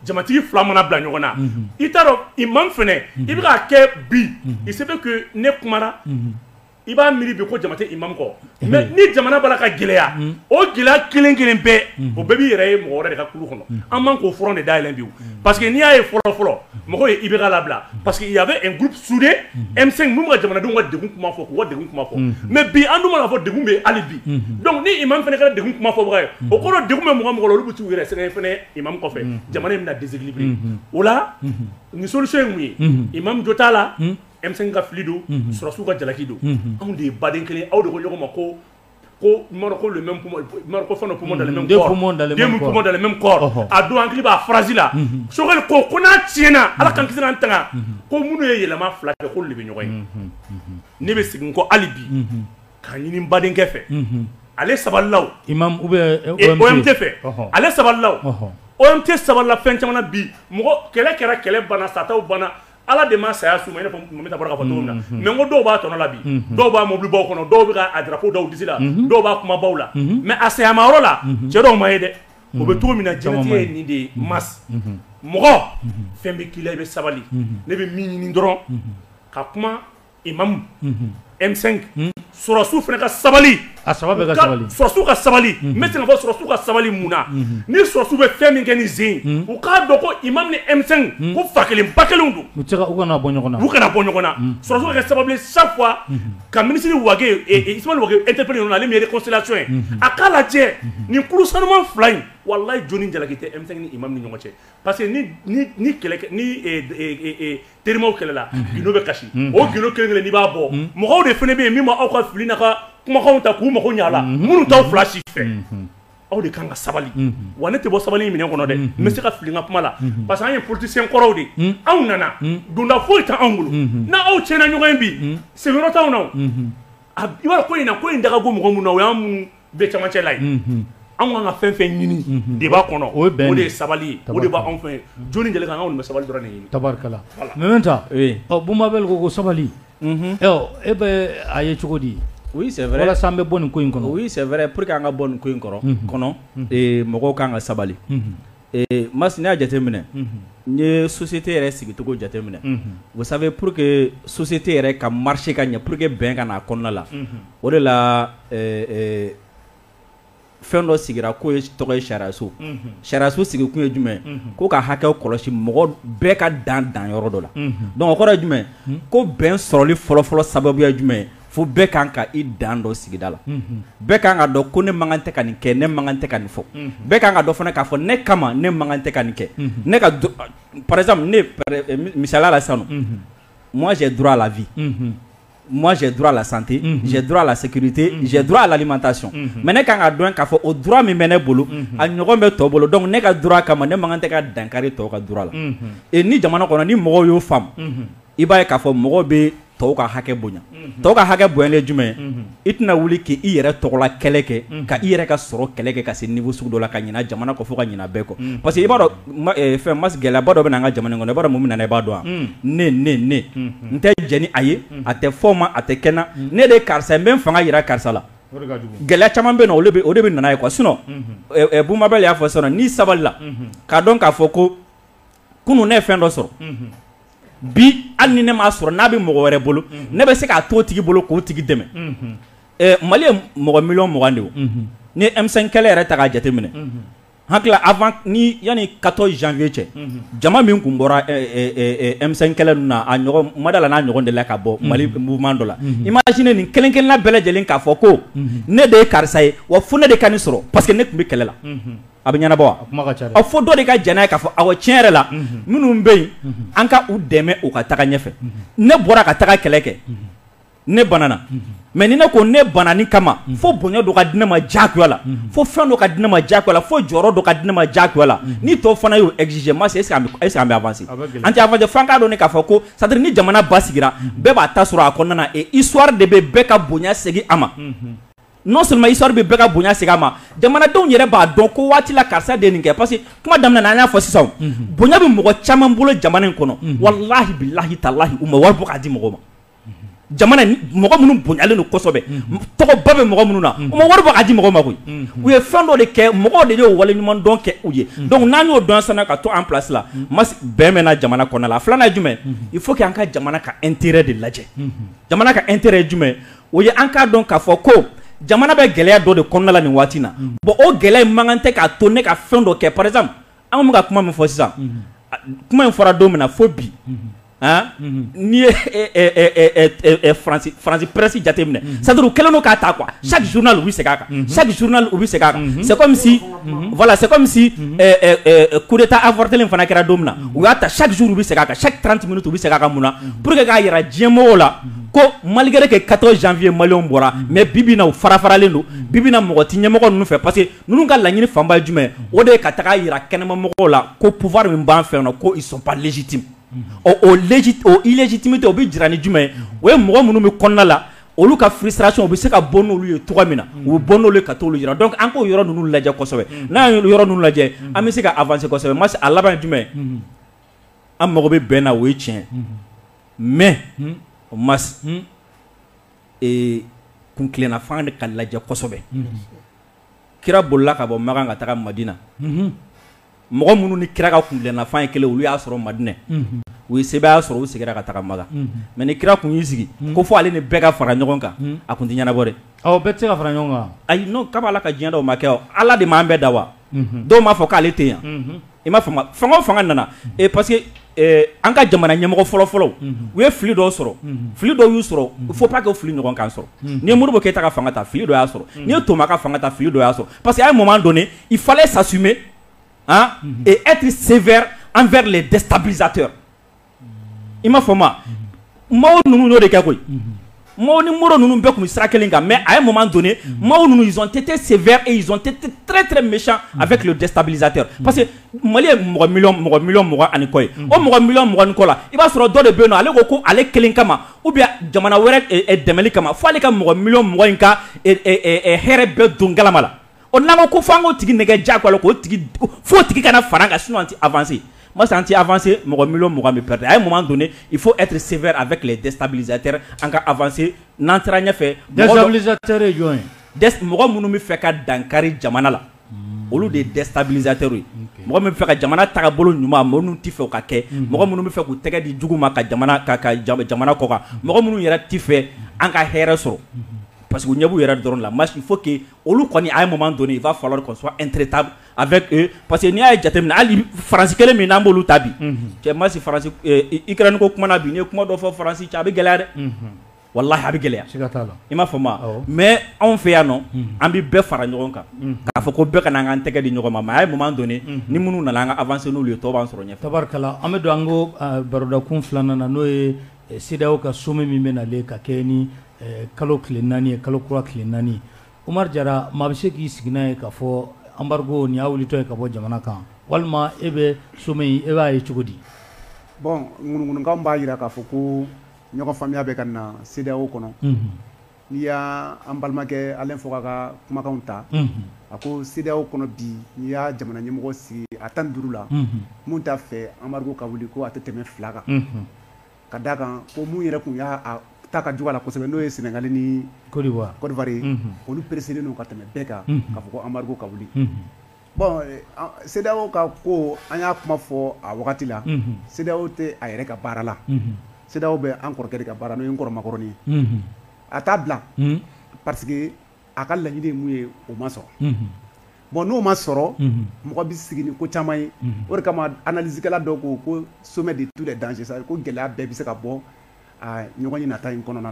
jamatigi fila mana bila ɲɔgɔn na i t'a dɔn imam fɛnɛ i bɛ k'a kɛ bi il se fait que ne kuma i b'a miiri bi ko jama tɛ imam kɔ mais ni jamana b'a la ka gɛlɛya o gɛlɛya kelen kelen bɛɛ o bɛɛ b'i yɛrɛ ye mɔgɔ wɛrɛ de ka kulu kɔnɔ an man k'o front de dayɛlɛ bi o parce que n'i y'a ye fɔlɔ fɔlɔ mɔgɔw ye IBK labila parce que il y avait un groupe soudé M5 min bɛ ka jamanadenw ka degun kuma fɔ k'u ka degun kuma fɔ mais bi an dun b'a k'a fɔ degun bɛ yen hali bi donc ni imam fana kɛra degun kuma fɔbaga ye o kɔrɔ degun bɛ mɔgɔ o mɔgɔ la olu bɛ t'u yɛrɛ sɛgɛn fana imam kɔfɛ jamana in bɛna déséquilibrer o la nin solution ye mun ye imam jo t'a la. M5 ka fili don sɔrɔsiw ka jalaki don anw de ye baden kelen aw de ko ɲɔgɔn ma ko ko le même poumon poumon dans le même corps deux poumons dans le même corps a don hakili b'a phrase la Choguel ko ko n'a tiɲɛna ala k'an kisi an tanga ko minnu ye yɛlɛma fila kɛ k'olu de bɛ ɲɔgɔn ye ne bɛ segin kɔ hali bi k'a ɲini n badenkɛ fɛ ale sabalila OMT fɛ ale sabalila OMT sabalila fɛn caman na bi mɔgɔ kɛlɛ kɛra kɛlɛ banna sataw banna Ala de ma saya s'u ma i n'a fɔ Mɛmɛnta bɔra k'a fɔ cogo min na unhun mais n ko dɔw b'a tɔnɔ la bi unhun dɔw b'a mobilibaw kɔnɔ dɔw be ka a drapeau da u disi la unhun dɔw b'a kumabaw la unhun mais a sayamayɔrɔ la unhun cɛ dɔw ma ye dɛ o be cogo min na jɛnatigɛ ye nin de ye Mass unhun mɔgɔ fɛn be k'i la i be sabali ne be min ɲini dɔrɔn ka kuma Imam M5 sɔrɔsiw fana ka sabali a sɔrɔsiw ka sabali n bɛ se k'a fɔ sɔrɔsiw ka sabali mun na ni sɔrɔsiw bɛ fɛn min kɛ nin sen u k'a dɔn ko imam ni M5 ko fa kelen ba kelen don u kana bɔ ɲɔgɔn na sɔrɔsiw kɛ sababu ye chaque fois ka minisiri Wagué Ismaël Wagué interpeller ale min ye réconciliation ye a k'a lajɛ nin kulu sanuman fila in wallahi jɔnni jalaki tɛ M5 ni imam ni ɲɔgɔn cɛ parce que ni kɛlɛ terimaw kɛlɛla gindo bɛ kasi o gindo kelen kelen n'i b'a bɔ mɔgɔw de fana bɛ yen min ma aw ka fili n'aw ka kumakanw ta k'u mago ɲa a la minnu t'aw fila si fɛ aw de kan ka sabali wa ne tɛ bɔ sabali minɛ kɔnɔ dɛ n bɛ se ka fili n ka kuma la parce que an ye politisiyɛn kɔrɔw de ye anw nana donda foyi t'anw bolo n' aw tiɲɛna ɲɔgɔn in bi sigiyɔrɔ t'anw na i b'a dɔn ko in na ko in da ka go mɔgɔ minnu na o y'an minnu bɛ cɛmancɛ la ye, unhun, anw ka kan ka fɛn o fɛn ɲini, unhun, débat kɔnɔ o ye bɛn de ye, o de ye sabali ye, tabarikala, o de bɛ anw fɛ yen, jɔni deli k'an kɛ anw kɔni bɛ sabali dɔrɔn de ɲini, tabarikala, voilà, Mɛmɛnta, oui, ɔ Boubou Mabel ko ko sabali, unhun, ɔ e bɛ a ye cogo di? oui c'est vrai walasa an bɛ bɔ nin ko in kɔnɔ, oui c'est vrai pour que an ka bɔ nin ko in kɔrɔ, unhun, kɔnɔ, ee mɔgɔw ka kan ka sabali, unhun Mas n'i y'a jateminɛ n'i ye société yɛrɛ sigicogo jateminɛ vous savez pour que société yɛrɛ ka marcher ka ɲɛ pour que bɛn ka na a kɔnɔna la o de la fɛn dɔ sigira k'o ye tɔgɔ ye sariyaso sariyaso sigikun ye jumɛn ko ka hakɛ kɔlɔsi mɔgɔ bɛɛ ka dan dan yɔrɔ dɔ la donc o kɔrɔ ye jumɛn ko bɛn sɔrɔli fɔlɔfɔlɔ sababu ye jumɛn fo bɛɛ kan ka i dan dɔn sigida la bɛɛ ka kan ka dɔn ko ne man kan tɛ ka nin kɛ ne man kan tɛ ka nin fɔ bɛɛ ka kan ka dɔn fana k'a fɔ ne kama ne man kan tɛ ka nin kɛ ne ka par exemple ne misali la sisan moi j'ai droit à la vie moi j'ai droit à la santé j'ai droit à la sécurité j'ai droit à l'alimentation mais ne ka kan ka dɔn k'a fɔ o droit min bɛ ne bolo a ɲɔgɔn bɛ tɔw bolo donc ne ka droit kama ne man kan tɛ ka dankari tɔw ka droit la ni jamana kɔnɔ ni mɔgɔw y'o faamu i b'a ye k'a fɔ mɔgɔ bɛ tɔw ka hakɛ bonya tɔw ka hakɛ bonyalen jumɛn i tɛna wuli k'i yɛrɛ tɔgɔla kɛlɛ kɛ ka i yɛrɛ ka sɔrɔ kɛlɛ kɛ ka se niveau sugu dɔ la ka ɲina jamana kɔ fo ka ɲina bɛɛ kɔ parce que i b'a dɔn fɛn mas gɛlɛyaba dɔ bɛ na an ka jamana kɔnɔ i b'a dɔn mun bɛ na i b'a dɔn wa ne ne ne n tɛ jɛn ni a ye a tɛ fɔ n ma a tɛ kɛ n na ne de ye karisa n bɛ fanga yira karisa la gɛlɛya caman bɛ yen o de bɛ na n'a ye quoi sinon Boubou Mabel y'a fɔ sisan n'i sabalila k'a dɔn k'a fɔ ko kunun ne ye fɛn dɔ sɔrɔ bi hali ni ne m'a sɔrɔ n'a bɛ mɔgɔ wɛrɛ bolo ne bɛ se k'a to o tigi bolo k'o tigi dɛmɛ mali ye mɔgɔ miliyɔn mugan de ye ni M5 kɛlɛ yɛrɛ ta k'a jateminɛ hakili la avant ni yanni 14 janvier cɛ jama min kun bɔra M5 kɛlɛ ninnu na a ɲɔgɔn n ma da a la n'a ɲɔgɔn delila ka bɔ mali mouvement dɔ la imagine nin kelen-kelenna bɛɛ lajɛlen k'a fɔ ko ne de ye karisa ye wa fo ne de ka nin sɔrɔ parce que ne tun bɛ kɛlɛ la a bɛ ɲɛnabɔ wa fo dɔ de ka jɛn n'a ye k'a fɔ awɔ tiɲɛ yɛrɛ la minnu bɛ yen an ka u dɛmɛ u ka taga ɲɛfɛ ne bɔra ka taga kɛlɛ kɛ ne banana mais ni ne ko ne banani kama fo bonya dɔ ka di ne ma diyagoya la fo fɛn dɔ ka di ne ma diyagoya la fo jɔyɔrɔ dɔ ka di ne ma diyagoya la ni tɔw fana y'o exiger ma est-ce que an bɛ avancer an tɛ avancer fo an k'a dɔn de k'a fɔ ko c'est à dire ni jamana basigira bɛɛ b'a ta sɔrɔ a kɔnɔna na et histoire de bɛ bɛɛ ka bonya segin a ma non seulement histoire bɛ bɛɛ ka bonya segin a ma jamanadenw yɛrɛ b'a dɔn ko waati la karisa de ye nin kɛ parce que kuma daminɛ na an y'a fɔ sisan bonya bɛ mɔgɔ caman bolo jamana in kɔnɔ walahi bilahi talahi u ma wari bɔ k'a di mɔgɔ ma jamana mɔgɔ minnu bonyalen don kosɛbɛ tɔgɔba bɛ mɔgɔ minnu na u ma wari bɔ k'a di mɔgɔ ma koyi u ye fɛn dɔ de kɛ mɔgɔw de y'o wale ɲuman dɔn kɛ u ye donc n'an y'o dɔn sisan ka to an place la bɛn bɛ na jamana kɔnɔna la a filanan ye jumɛn ye il faut que an ka jamana ka intérêt de lajɛ jamana ka intérêt ye jumɛn ye o ye an k'a dɔn k'a fɔ ko jamana bɛ gɛlɛya dɔ de kɔnɔna la nin waati na bon o gɛlɛya man kan tɛ k'a to ne ka fɛn dɔ kɛ par exemple an bɛ ka kuma min fɔ sisan kuma in fɔra don min na fo bi n'i ye France presse jateminɛ c'est à dire u kɛlen don k'a ta quoi chaque journal u bɛ segin a kan chaque journal u bɛ segin a kan c'est comme si voilà c'est comme si coup d'Etat avortélen fana kɛra don min na u y'a ta chaque jour u bɛ segin a kan chaque 30 minutes u bɛ segin a kan mun na pour que k'a yira diɲɛmɔgɔw la ko malgré que 14 janvier maliyɛnw bɔra mais bibi na u farafaralen don bibi na mɔgɔ tɛ ɲɛmɔgɔ ninnu fɛ parce que ninnu ka laɲini fanba ye jumɛn o de ye ka taga yira kɛnɛmamɔgɔw la ko pouvoir min b'an fɛ ko ils sont pas légitimes o illégitimité o bɛ jira ni jumɛn ye o ye mɔgɔ minnu bɛ kɔnɔna la olu ka frustration u bɛ se ka bɔ n'olu ye cogo min na u bɛ bɔ n'olu ye ka taa yira donc an k'o yɔrɔ ninnu lajɛ kosɛbɛ n'an ye yɔrɔ ninnu lajɛ an bɛ se ka avancer kosɛbɛ masi a laban jumɛn an mago bɛ bɛn na o ye tiɲɛ mais o ma kuntilenna fan de ka lajɛ kosɛbɛ kira bolila ka bɔ makan ka taga madina mɔgɔ minnu ni kira ka kuntilenna fan ye kelen olu y'a sɔrɔ madinɛ u ye sebaya sɔrɔ u seginna ka taga makan mais ni kira tun y'i sigi ko fo ale ni bɛɛ ka fara ɲɔgɔn kan a tun tɛ ɲɛnabɔ dɛ aw bɛɛ tɛ se ka fara ɲɔgɔn kan ayi non kaba ala ka diɲɛ da o ma kɛ ala de m'an bɛɛ da wa dɔw m'a fɔ k'ale tɛ yan i m'a faamu fanga o fanga nana parce que an ka jamana ɲɛmɔgɔ fɔlɔ fɔlɔ u ye fili dɔ sɔrɔ fili dɔ y'u sɔrɔ il faut pas que o fili ɲɔgɔn k'an sɔrɔ n'i ye modibo keyita ka fanga ta fili dɔ y'a sɔrɔ n'i ye toma ka fanga ta fili dɔ y'a sɔrɔ parce que à un moment donné il fallait s'assumer et être sévère envers les déstabilisateurs i ma fɔ ma mɔgɔw ninnu de kɛ koyi mɔgɔw ni mori ninnu bɛɛ tun bɛ sira kelen kan mɛ a ye mama don mɔgɔw ninnu tɛ tɛ sen tɛrɛɛrɛ mi a bɛ kilo dɛsɛsabiztɛ parce que mali ye mɔgɔ mi mɔgɔ mi mɔgɔ ani kɔ ye o mɔgɔ mi mɔgɔɔgɔn kɔ la i b'a sɔrɔ dɔ de bɛ yen ale ko ko ale kelen kama u bɛ jamana wɛrɛ dɛmɛ kama fo ale ka mɔgɔ mi mɔgɔ in ka hɛrɛ bɛɛ don kalama la o n'an ko f'an k'o tigi nɛgɛ diyagoya la k'o tigi f'o tigi kana fara an kan sinon an tɛ avancer moi c'est anti avancer mɔgɔ million mugan bɛ perdre à un moment donné il faut être sévère avec les déstabilisateurs an ka avancer n'an taara ɲɛfɛ déstabilisateur ye jɔn ye mɔgɔ minnu bɛ fɛ ka dankari jamana la olu de ye déstabilisateur ye mɔgɔ min bɛ fɛ ka jamana tagabolo ɲuman mɔgɔ minnu tɛ fɛ o ka kɛ mɔgɔ minnu bɛ fɛ k'u tɛgɛ di jugu ma ka jamana ka ka jamana kɔkan mɔgɔ minnu yɛrɛ tɛ fɛ an ka hɛrɛ sɔrɔ parce que u ɲɛ b'u yɛrɛ dɔrɔn la moi il faut que olu kɔni à un moment donné il va falloir qu'on soit intraitable avec eux parce que n'i y'a ye jateminɛ hali France kelen min n'an b'olu ta bi, unhun, cɛ masi France Ukraine ko kuma na bi n'i ye kuma dɔ fɔ France cɛ a bɛ gɛlɛya dɛ, unhun, walahi a bɛ gɛlɛya, siga t'a la, i m'a faamu wa, awɔ, mais anw fɛ yan nɔ an bɛ bɛɛ fara ɲɔgɔn kan k'a fɔ ko bɛɛ ka na an k'an tɛgɛ di ɲɔgɔn ma mais à un moment donné ni minnu nana an ka avancer n'olu ye tɔw b'an sɔrɔ ɲɛfɛ, tabarikala, an bɛ don an ko barodakun filanan na n'o ye CEDEAO ka sommet min bɛ nalen ka kɛɲɛ ni kalo tile naani ye, kalo kura tile naani, Umaru Jara maa bɛ se k'i sigi n'a ye k'a fɔ embargo nin y'a wulitɔ ye ka bɔ jamana kan walima e bɛ sommet in e b'a ye cogo di? Bon ŋunuŋunukan b'a jira k'a fɔ ko ɲɔgɔnfaamuya bɛ ka na CEDEAO kɔnɔ, unhun. N'i y' an balimakɛ Alain Foka ka kumakanw ta a ko CEDEAO kɔnɔ bi n'i y'a jamana ɲɛmɔgɔ sigi a tan duuru la min t'a fɛ embargo ka wuli ko a tɛ tɛmɛ fila kan ka d' a kan ko minnu yɛrɛ tun y'a ta ka juguya kosɛbɛ n'o ye sɛnɛgali ni Côte d'Ivoire ye olu pressélen don ka tɛmɛ bɛɛ kan k'a fɔ ko embargo ka wuli Bon CEDEAO ka ko an y'a kuma fɔ a wagati la CEDEAO tɛ a yɛrɛ ka baara la CEDEAO bɛ an kɔrɔkɛ de ka baara n'o ye n kɔrɔ Macron ye a t'a bila parce que a ka laɲini ye min ye o ma sɔrɔ bon n'o ma sɔrɔ mɔgɔ bɛ sigi ni ko caman ye o de kama analysekɛla dɔw ko ko sommet de tous les dangers ko gɛlɛya bɛɛ bɛ se ka bɔ ɲɔgɔnye nata in kɔnɔna na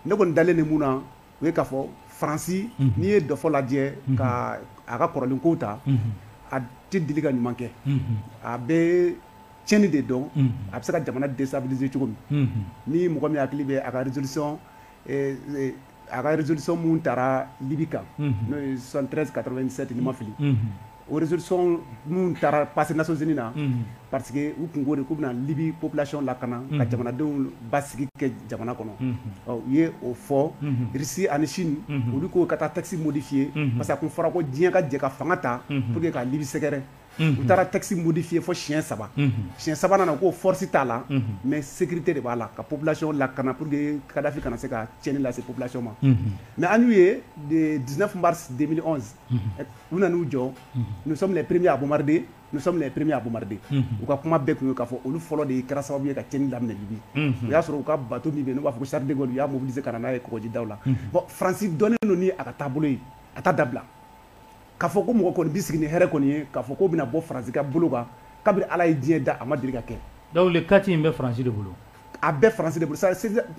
ne kɔni dalen de mun na o ye k'a fɔ faransi n'i ye dɔfɔ lajɛ ka a ka kɔrɔlen kow ta a tɛ deli ka ɲuman kɛ a bɛ tiɲɛni de dɔn a bɛ se ka jamana déstabiliser cogo min ni mɔgɔ min hakili bɛ a ka résolution a ka résolution minnu taara libi kan n'o ye 73 97 ni n ma fili o résolution minnu taara passé Nations Unies na, unhun, parce que u tun ko de k'u bɛna Libye population lakana, unhun, ka jamanadenw basigi kɛ jamana kɔnɔ, unhun, ɔ u ye o fɔ, unhun, Russie ani Chine, unhun, olu ko ka taa texte modifier, unhun, parce que a tun fɔra ko diɲɛ ka jɛ ka fanga ta, unhun, pour que ka Libye sɛgɛrɛ, unhun, u taara texte modifier fo siɲɛ saba, unhun, siɲɛ sabanan na u ko force t'a la, unhun, mais sécurité de b'a la ka population lakana pour que Kadhafi kana se ka tiɲɛni lase population ma, unhun, mais an y'u ye le 19 mars 2011 u nana u jɔ nous sommes les premiers à bombarder nous sommes les premiers à bombarder u ka kuma bɛɛ tun ye k'a fɔ olu fɔlɔ de kɛra sababu ye ka tiɲɛni daminɛ Libi o y'a sɔrɔ u ka bateau min bɛ yen n'u b'a fɔ ko Charles de Gaulle u y'a mobiliser ka na n'a ye kɔgɔjidaw la bon France dɔnnen don ni a ka taabolo ye a t'a dabila k'a fɔ ko mɔgɔ kɔni bɛ sigi ni hɛrɛ kɔni ye k'a fɔ k'o bɛna bɔ France ka bolo kan kabiri Ala ye diɲɛ da a ma deli ka kɛ donc le 4 in bɛ France de bolo a bɛ faransi de bolo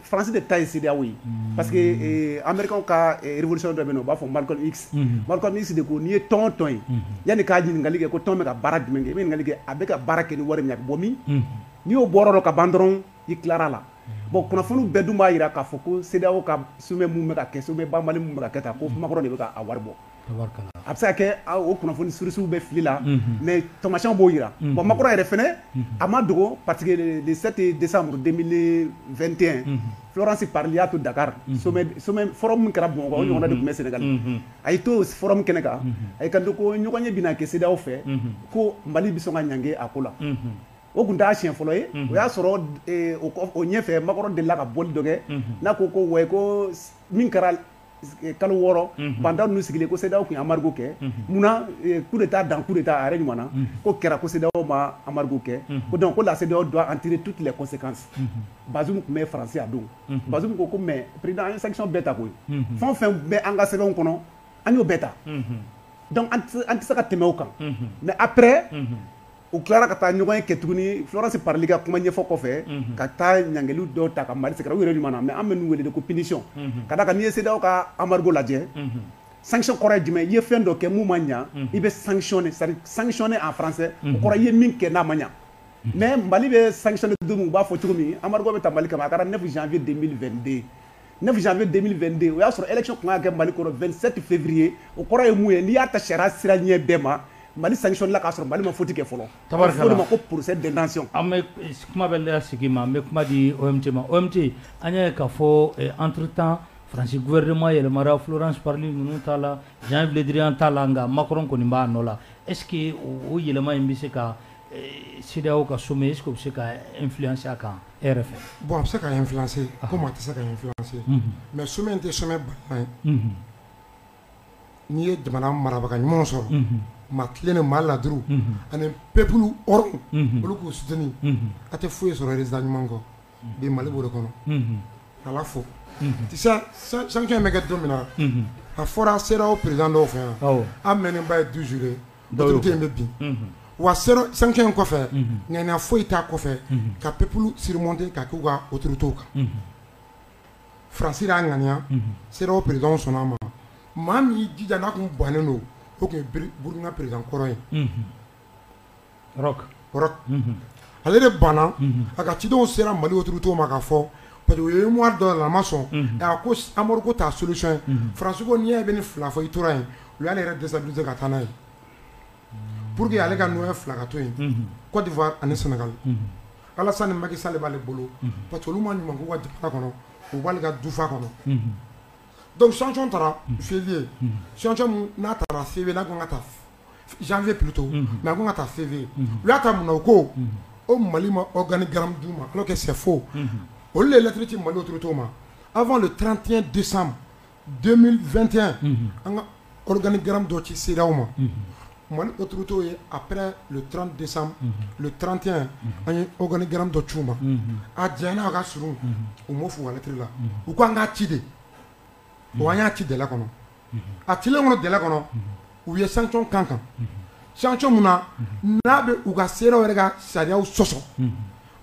faransi de ta ye CEDEAO ye hmm. parce que eh, américains ka eh, révolution dɔ bɛ yen n'u b'a fɔ Malcolm X hmm. Malcolm X de ko n'i ye tɔn o tɔn ye hmm. yanni ka ɲininkali kɛ ko tɔn bɛ ka baara jumɛn kɛ i bɛ ɲininkali kɛ a bɛ ka baara kɛ ni wari min a bɛ bɔ min n'i y'o bɔyɔrɔ dɔn ka ban dɔrɔn i tilara la bon kunnafoniw bɛɛ dun b'a jira k'a fɔ ko CEDEAO ka sommet min bɛ ka kɛ sommet banbali min bɛ ka kɛ tan ko Macron de bɛ ka a wari bɔ a bɛ se ka kɛ o kunnafoni sourcew bɛ fili la mais tamasiyɛnw b'o jira bon Macron yɛrɛ fana a ma dogo parce que le 7 décembre 2021 Florence Parly y'a to Dakar forum min kɛra bon o ɲɔgɔnna de tun bɛ Sénégal a y'i to forum kɛnɛ kan a y'i kanto ko ɲɔgɔnye bɛna kɛ CEDEAO fɛ ko mali bɛ sɔn ka ɲangi a ko la o tun t'a siɲɛ fɔlɔ ye o y'a sɔrɔ o ɲɛfɛ Macron delila ka bɔli dɔ kɛ n'a ko ouais ko min kɛra kalo wɔɔrɔ banta ninnu sigilen ko sedaw tun amadudu kɛ munna ku de taa dan ku de taa a ɲɔgɔn na ko kɛra koda ma amadudu kɛ ko dɔn ko lase don an teri tu tilale kɔse kan baz tun bɛ faransiya don baz ko ko mɛ pered an ye sa bɛɛ ta koyi fɛn fɛn bɛ an ka sɛbɛnw kɔnɔ an y'o bɛɛ ta an tɛ se ka tɛmɛ kan mɛ apɛ u tilara ka taa ɲɔgɔnye kɛ tuguni florence Parly ka kuma ɲɛfɔ kɔfɛ mhm. ka taa ɲangeliw dɔw ta ka mali sɛgɛrɛ u yɛrɛ ɲuman na mais an bɛ ninnu wele de ko punition mhm. ka d'a kan n'i ye CEDEAO ka embargo lajɛ mhm. sanction kɔrɔ ye jumɛn i ye fɛn dɔ kɛ mun ma ɲa i bɛ sanctionner c'est sanctionner en français o kɔrɔ i ye min kɛ n'a ma ɲa mais mali bɛ sanctionner don min u b'a fɔ cogo min embargo bɛ ta mali kama a kɛra 9 janvier 2022 9 janvier 2022 o y'a sɔrɔ élection tun kan ka kɛ Mali kɔnɔ 27 février o kɔrɔ ye mun ye n'i y'a ta sariya sira ɲɛ bɛɛ ma Mali sanctionner la k'a sɔrɔ Mali ma faute kɛ fɔlɔ tabarikala o de ma ko procès d'intention an bɛ kuma bɛ la sigi ma an bɛ kuma di OMT ma OMT an y'a ye k'a fɔ eh, entre temps France gouvernement yɛlɛmara Florence Parly ninnu t'a la Jean Yves Le Drian t'a la nka Macron kɔni b'a nɔ la est ce que o yɛlɛma in bɛ se ka eh, CEDEAO ka sommet est ce que o bɛ se ka influencer a kan e yɛrɛ fɛ bon a bɛ se ka influencer comme a tɛ se ka influencer mais sommet in tɛ sommet banal ye n'i ye jamana marabaga ɲumanw sɔrɔ maa tilennen maa laadiriw ani peuple hɔrɔn olu k'u soutenir a tɛ foyi sɔrɔ résultat ɲuman kɔ bi Mali b'o de kɔnɔ k'Ala fo sanction in bɛ kɛ don min na a fɔra CEDEAO président dɔw fɛ yan a mɛɛnnenba ye 12 jours ye. in bɛ bin wa sanction in kɔfɛ ŋaniya foyi t'a kɔfɛ ka peuple surmonter ka k'u ka autoritéw kan Faransi y'a ŋaniya CEDEAO présidentw sɔnna a ma maa min y'i jija n'a tun bannen don o tun ye Burkina président kɔrɔ ye ale de banna a ka cidenw sera mali otu to ma ka fɔ pa ye mu dɔ la a ma sɔn ko amadu ko taa soli ye fara n'i ye bɛ ni fila fɔ i tora yen u y'ale yɛrɛ dɛsɛ dun ka taa n'a ye pur que ale ka n fila ka to yen kɔdi ani sɛnɛga ala ni maki sa de b'ale bolo pa olu ma ɲuman k'u ka jamana kɔnɔ u b'ale ka dufa kɔnɔ dɔnkuc sɔnc taara fi ye sɔnc n'a taara fi bɛ n'a ka taa janvier plutôt unhun, mais a kan ka ta février unhun, u y'a ta mun na u ko o Mali ma organigramme d'u ma alors que c'est faux unhun, olu de ye lettre ci Mali autorités ma avant le 31 décembre 2021 unhun, an ka organigramme dɔ ci CEDEAO ma unhun, Mali autorités ye après le 30 décembre unhun, le 31 an ye organigramme dɔ ci u ma unhun, a janyana a ka surun u m'o f'u ka lettre la u ko an k'a ci de bon an y'a ci délai kɔnɔ, unhun, a cilen kɔnɔ délai kɔnɔ, unhun, u ye sanction k'an kan, unhun, sanction min na, unhun, n'a bɛ u ka CEDEAO yɛrɛ ka sariyaw sɔsɔ, unhun,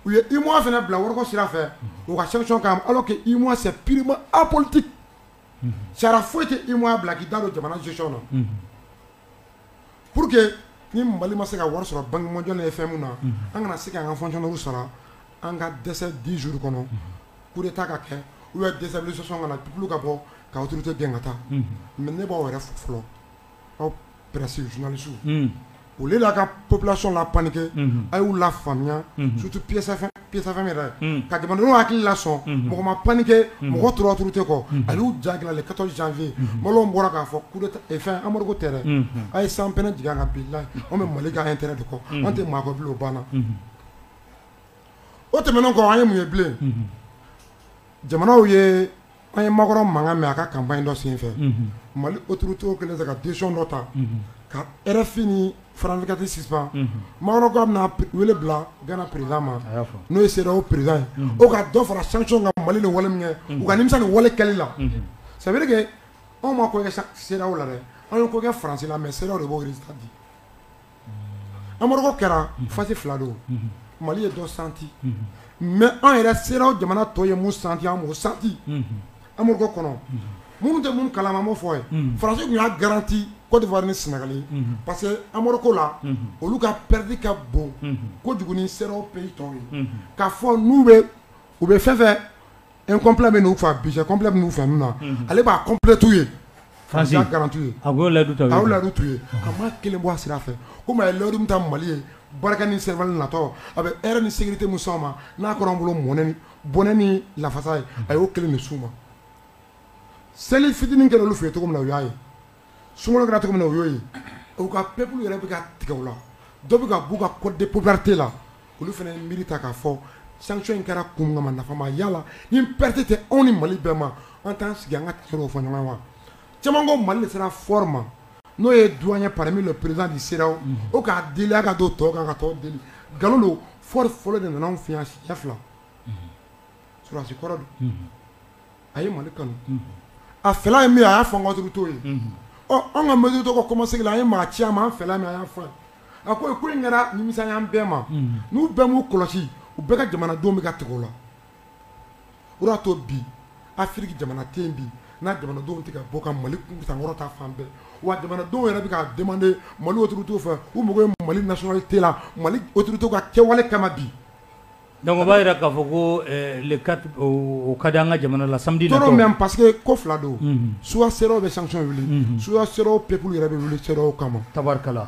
u ye UEMOA fana bila wariko sira fɛ, unhun, u ka sanction k'an kan alors que UEMOA c'est purement apolitique, unhun, sariya foyi tɛ UEMOA bila k'i da don jamana gestion na, unhun Pur que ni mali ma se ka wari sɔrɔ bankemaj ye fɛn min na an kana se ka an ka fɔnw sara an ka dɛsɛ di zuru kɔnɔ k de taa ka kɛ u ye dɛsɛ sɔsɔ ka tu ka bɔ ka tɛ gɛn ka taa mɛ ne b'aw yɛrɛ fɔlɔ aw pɛsi zsu o de la ka pbilati la panke a y'u la faamuya sutu psɛfɛ ka jamanadenw hakili la sɔn mɔgɔ ma panike mɔgɔ tora tɛ kɔ ani'u ja ka janfin malo bɔra k'a fɔ amadu tɛ a ye san pɛnɛ jigin ka bila an bɛ mali an tɛ de kɔ an tɛ maa banna o tɛmɛn kɔ an ye mun ye bilen jamanaw ye An ye makɔrɔ mankan mɛn a ka kanba in dɔ sen fɛ mali o turu cogo kelen ka dec dɔ ta ka fini farankati sisan makan bɛna wele bila gana perez ma n'o se o perez o ka dɔ fara san ka mali ni wale min kɛ u ka nimisa ni wale kɛlɛ la sabulake anw ma ko se la dɛ anw ko kɛ farasi mɛ se de b'o di amadu kɛra fasi fila don mali ye dɔ santi mɛ an yɛrɛ sera o jamana tɔ ye mu santi o santi amadu kɔnɔ minnu tɛ minnu kala ma fɔ ye farasiw y'a garanti kɔdiwa ni sinagali parce que amadu ko la olu ka pɛdi ka bon ko jugu sera o pe tɔn ye ka fɔ n'u bɛ u bɛ fɛn fɛ e kɔnpla bɛ n'u faa bi kɔnpla bɛ'u faamu na ale b'a kɔnplɛ tuu ye farasi garanrantuu ye a b'o ladu a ladu tun ye a ma kelen bɔ a sira a fɛ ko mɛ ye layidu ta mali ye barika ni sɛ natɔ a bɛ e ni sigi tɛ mu ma n'a kɔrɔ bolo mɔnɛni bɔnɛ ni lafasa ye a y'o kelen ni su ma seli fitinin kɛra olu f ye cogo min na o y'a ye Sunkalo kɛra cogo min na o y'o ye, u ka peuples yɛrɛ bɛ ka tigɛ u la, dɔ bɛ ka b'u ka cote de popularité la olu fana ye miiri ta k'a fɔ sanction in kɛra kun min kama nafa ma y'a la ni perte tɛ anw ni Mali bɛɛ ma an t'an sigi an ka tiɲɛ dɔw fɔ ɲɔgɔn ye wa? Caman ko Mali de sera Faure ma n'o ye doyen ye parmi les présidents du CEDEAO o k'a deli a ka don tɔw kan ka tɔw deli nkalon don Faure fɔlɔ de nana anw fɛ yan siɲɛ fila, unhun, sɔrɔdasi kɔrɔ don a ye mali kanu a fɛla ye min ye a y'a fɔ an ka autorité ye ɔ an ka mali autorité ka kɔmasegin na an ye maa ci a ma an fɛla min a y'a fɔ ye a ko ko in kɛra nimisa y'an bɛɛ ma n'u bɛɛ b'u kɔlɔsi u bɛɛ ka jamanadenw bɛ ka tigɛ u la o de y'a to bi Afiriki jamana tɛ yen bi n'a jamanadenw tɛ ka bɔ ka mali sankɔrɔta fan bɛɛ wa jamanadenw yɛrɛ bɛ ka demandé mali autorité fɛ u mako ye mali nationalité la mali autorité ka kɛwale kama bi Dɔnku b'a jira k'a fɔ ko ka di an ka jamana la sadi mɛ pa que ko fila don suwa se bɛ san wuli su se pep yɛrɛ bɛ wuli se kama tarikala